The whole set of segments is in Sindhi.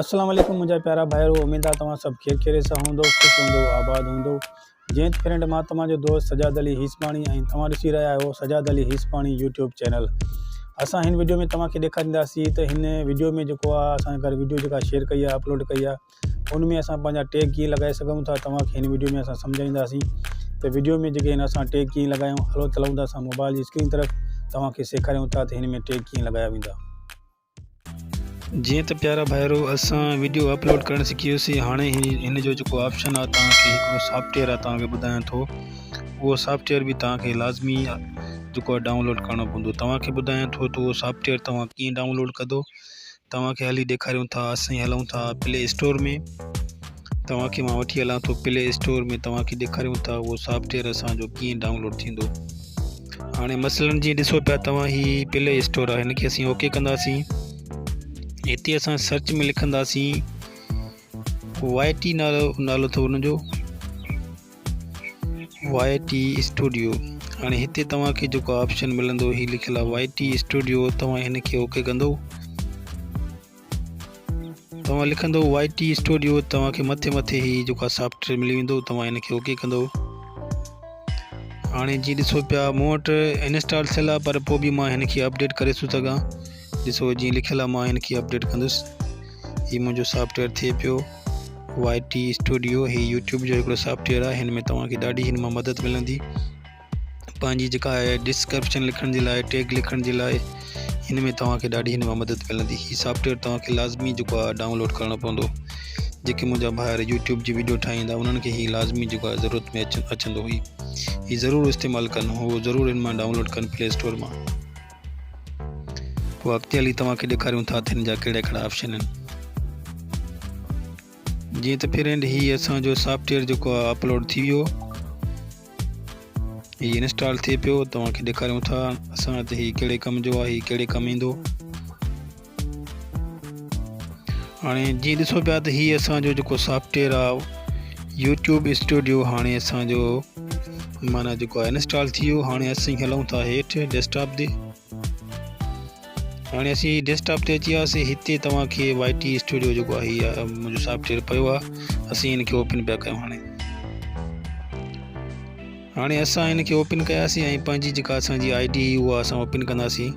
السلام عليڪم منهنجا پيارا ڀائرو اميد آهي توهان سڀ خير خيريت سان هوندو خوش هوندو آباد هوندو جنهن فرينڊ مان توهان جو دوست سجاد علي هيسپاڻي ۽ توهان ڏسي رهيا آهيو سجاد علي هيسپاڻي يوٽيوب چينل اسان هن ويڊيو ۾ توهان کي ڏيکارينداسين ته هن ويڊيو ۾ جيڪو آهي اسان گهر ويڊيو جيڪا شيئر ڪئي آهي اپلوڊ ڪئي آهي ان ۾ اسان پنهنجا ٽيگ ڪيئن لڳائي سگهون ٿا توهان کي هن وڊيو ۾ اسان سمجهائينداسين ته وڊيو ۾ جيڪي هن اسان ٽيگ ڪيئن لڳايون هلو تلون ٿا اسان موبائل جي اسڪرين طرف توهان کي سيکاريون ٿا ته هن ۾ ٽيگ ڪيئن لڳايا ويندا جيئن ته پيارا ڀائرو اسان وڊيو اپلوڊ ڪرڻ سکيوسين هاڻي هن جو جيڪو آپشن آهي توهان کي هڪڙو سافٽويئر آهي توهان کي ٻڌايان ٿو اهو سافٽويئر به توهان کي لازمي جيڪو ڊائونلوڊ ڪرڻو پوندو توهان کي ٻڌايان ٿو ته اهو سافٽويئر توهان ڪيئن ڊائونلوڊ ڪندو توهان کي هلي ڏيکاريون ٿا اسين هلون ٿا پلي اسٽور ۾ توهان کي مان وٺي هلان ٿو پلي اسٽور ۾ توهان کي ڏيکاريون ٿا اهو سافٽويئر اسان جو ڪيئن ڊائونلوڊ ٿيندو هاڻي مثلا جيئن ڏسو پيا توهان هي پلي اسٽور آهي هن کي اسين اوڪي ڪنداسين هتي اسان سرچ ۾ لکنداسين وائي ٽي نالو نالو اٿو هن جو YT Studio هاڻي هتي توهان کي جيڪو آپشن ملندو هي لکيل آهي واء ٽي اسٽوڊيو توهان هن کي اوڪي ڪندو توهان لکندو واء ٽي اسٽوڊيو توهان کي مٿي مٿي هي جيڪو سافٽوير ملي ويندو توهان هن کي اوڪي ڪندو هاڻي جي ڏسو پيا مون وٽ انسٽال ٿيل آهي پر پوء به مان هن کي اپڊيٽ ڪري ٿو سگهان ڏسو هي جيئن لکيل آهي مان هن کي اپڊيٽ ڪندس هي منهنجو سافٽويئر ٿئي پيو واء ٽي اسٽوڊيو هي يوٽيوب جو هڪڙو سافٽويئر آهي هن ۾ توهان کي ڏاڍي هن مان مدد ملندي پنهنجي جيڪا آهي ڊسڪرپشن لکڻ جي لاء ٽيگ لکڻ جي لاء هن ۾ توهان کي ڏاڍي هن مان مدد ملندي هي سافٽويئر توهان کي لازمي جيڪو آهي ڊائونلوڊ ڪرڻو پوندو جيڪي منهنجا ڀائر يوٽيوب جي ويڊيو ٺاهيندا انهن کي هي لازمي جيڪو آهي ضرورت ۾ اچندو هي هي ضرور استعمال ڪن هو ضرور هن مان ڊائونلوڊ ڪن پلي اسٽور مان پوء اڳتي هلي توهان کي ڏيکاريون ٿا ته هن جا ڪهڙا ڪهڙا آپشن آهن جيئن ته فرينڊ هي اسان جو سافٽويئر جيڪو آهي اپلوڊ ٿي ويو هي انسٽال ٿئي پيو توهان کي ڏيکاريون ٿا اسان ته هي ڪهڙي ڪم جو آهي هي ڪهڙي ڪم ايندو هاڻي جيئن ڏسو پيا ته هي اسان جو جيڪو سافٽويئر آهي يوٽيوب اسٽوڊيو هاڻي اسان جو مانا جيڪو آهي انسٽال ٿي ويو هاڻي اسين هلون ٿا هيٺ ڊيسڪٽاپ تي هاڻي اسين ڊيسڪٽاپ تي اچي وياسي هتي توهان کي وائي ٽي اسٽوڊيو جيڪو آهي هي منهنجو سافٽويئر پيو آهي اسين هن کي اوپن پيا ڪيون هاڻي هاڻي اسان هن کي اوپن ڪياسي ۽ پنهنجي جيڪا اسان جي آئي ڊي هي اها اسان اوپن ڪنداسين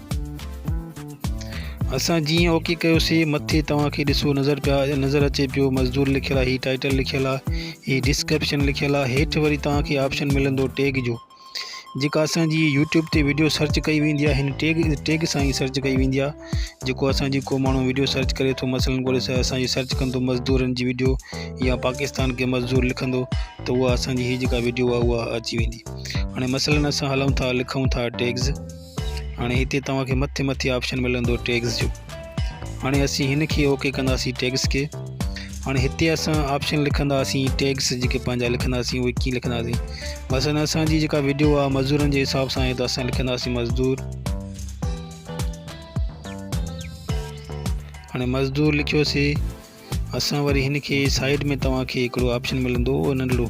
اسان جيئن اوڪي ڪيوسين مٿي توهان کي ڏسو نظر پيا نظر اچي پيو مزدور لکيل آهي هي ٽائٽل لکيل آهي هي ڊسڪرپشن لکيل آهي هيٺ وري توهان کي آپشن ملندو ٽيگ جو جيڪا اسان جي يوٽيوب تي ويڊيو سرچ ڪئي ويندي آهي هن ٽيگ ٽيگ سان ئي سرچ ڪئي ويندي آهي جيڪو اسان جي ڪو ماڻهو ويڊيو سرچ ڪري ٿو مثلاً ڳولي سر اسان جي سرچ ڪندو مزدورن جي ويڊيو يا پاڪستان کي مزدور لکندو ته اها اسان جي هي جيڪا ويڊيو آهي اها اچي ويندي هاڻي مثلاً اسان هلون ٿا لکون ٿا ٽيگز هاڻي هتي توهان کي مٿي مٿي آپشن ملندو ٽيگز جو هاڻي اسين هن کي اوڪي ڪنداسين ٽيگز کي هاڻي هتي اسان آپشن لکنداسين ٽيگز جيڪي پنهنجا لکنداسين اهي ڪيئن لکنداسين مثلا اسانجي جيڪا ويڊيو آ مزدورن جي حساب سان ته اسان لکنداسين مزدور هاڻي مزدور لکيوسي اسان وري هن کي سائيڊ ۾ توهان کي هڪڙو آپشن ملندو ننڍڙو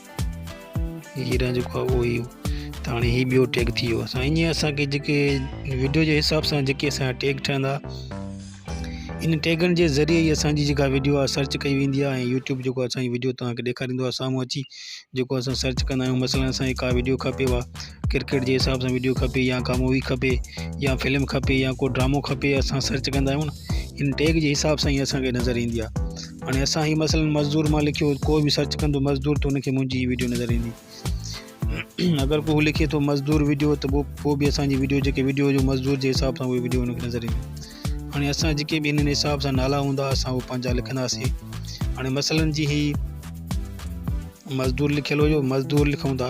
هيران جو خواب اهو ئي هو ته هاڻي هي ٻيو ٽيگ ٿي ويو سو ائين اسانکي جيڪي ويڊيو جي حساب سان جيڪي اسانجا ٽيگ ٺهندا ان ٽيگن جي ذريعي ئي اسانجي جيڪا ويڊيو آهي سرچ ڪئي ويندي آهي ۽ يوٽيوب جيڪو اسانجي ويڊيو تهانکي ڏيکاريندو آهي سامهون اچي جيڪو اسان سرچ ڪندا آهيون مثلاً اسانکي ڪا ويڊيو کپيو آهي ڪرڪيٽ جي حساب سان وڊيو کپي يا ڪا مووي کپي يا فلم کپي يا ڪو ڊرامو کپي اسان سرچ ڪندا آهيون نه ان ٽيگ جي حساب سان هي اسانکي نظر ايندي آ هاڻي اسان هي مثلا مزدور مان لکيو ڪو به سرچ ڪندو مزدور ته انکي منهنجي هي وڊيو نظر ايندي اگر ڪو لکي ٿو مزدور ويڊيو ته پوء پوء به اسانجي ويڊيو جيڪي ويڊيو جو مزدور جي حساب سان اهي ويڊيو ان کي نظر ايندي هاڻي اسان جيڪي به هن حساب سان نالا هوندا اسان اهو پنهنجا لکنداسين هاڻي مثلا جي هي مزدور لکيل هيو مزدور لکون ٿا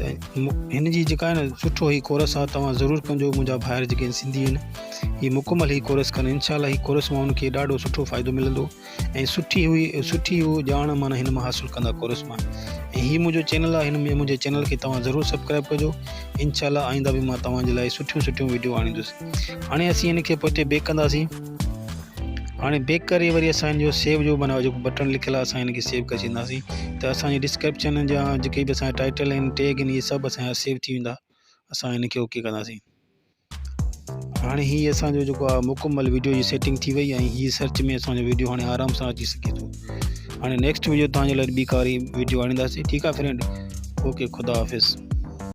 هن جي جيڪا آهي سٺو هي ڪورس آهي توهان ضرور ڪنجو منهنجا ڀائر جيڪي سنڌي آهن هي مڪمل هي ڪورس ڪن ان شاء الله هي ڪورس مان انکي ڏاڍو سٺو فائدو ملندو ۽ سٺي هئي سٺي هو ڄاڻ معنی هن مان حاصل ڪندا ڪورس مان ۽ هي منهنجو چينل آهي هن ۾ منهنجي چينل کي توهان ضرور سبسڪرائب ڪجو ان شاء الله آئنده به مان توهان جي لاء سٺيون سٺيون ويڊيو آڻيندس هاڻي اسين هن کي پوء تي بيڪ ڪنداسين هاڻي بيڪ ڪري وري اسان جو سيو جو معنی جيڪو بٽڻ لکيل آهي اسان ان کي سيو ڪري ڇڏينداسين ته اسان جي ڊسڪرپشن جا جيڪي به اسان ٽائٽل آهن ٽيگ آهن اهي سڀ اسان جا سيو ٿي ويندا اسان ان کي اوڪي ڪنداسين هاڻي هي اسان جو جيڪو آهي مڪمل ويڊيو جي سيٽنگ ٿي وئي ۽ هي سرچ ۾ اسان جو ويڊيو هاڻي آرام سان اچي سگهي ٿو هاڻي نيڪسٽ ويڊيو تان جي لاء ٻي ڪاري ويڊيو آڻينداسين ٺيڪ آهي فرينڊ اوڪي خدا حافظ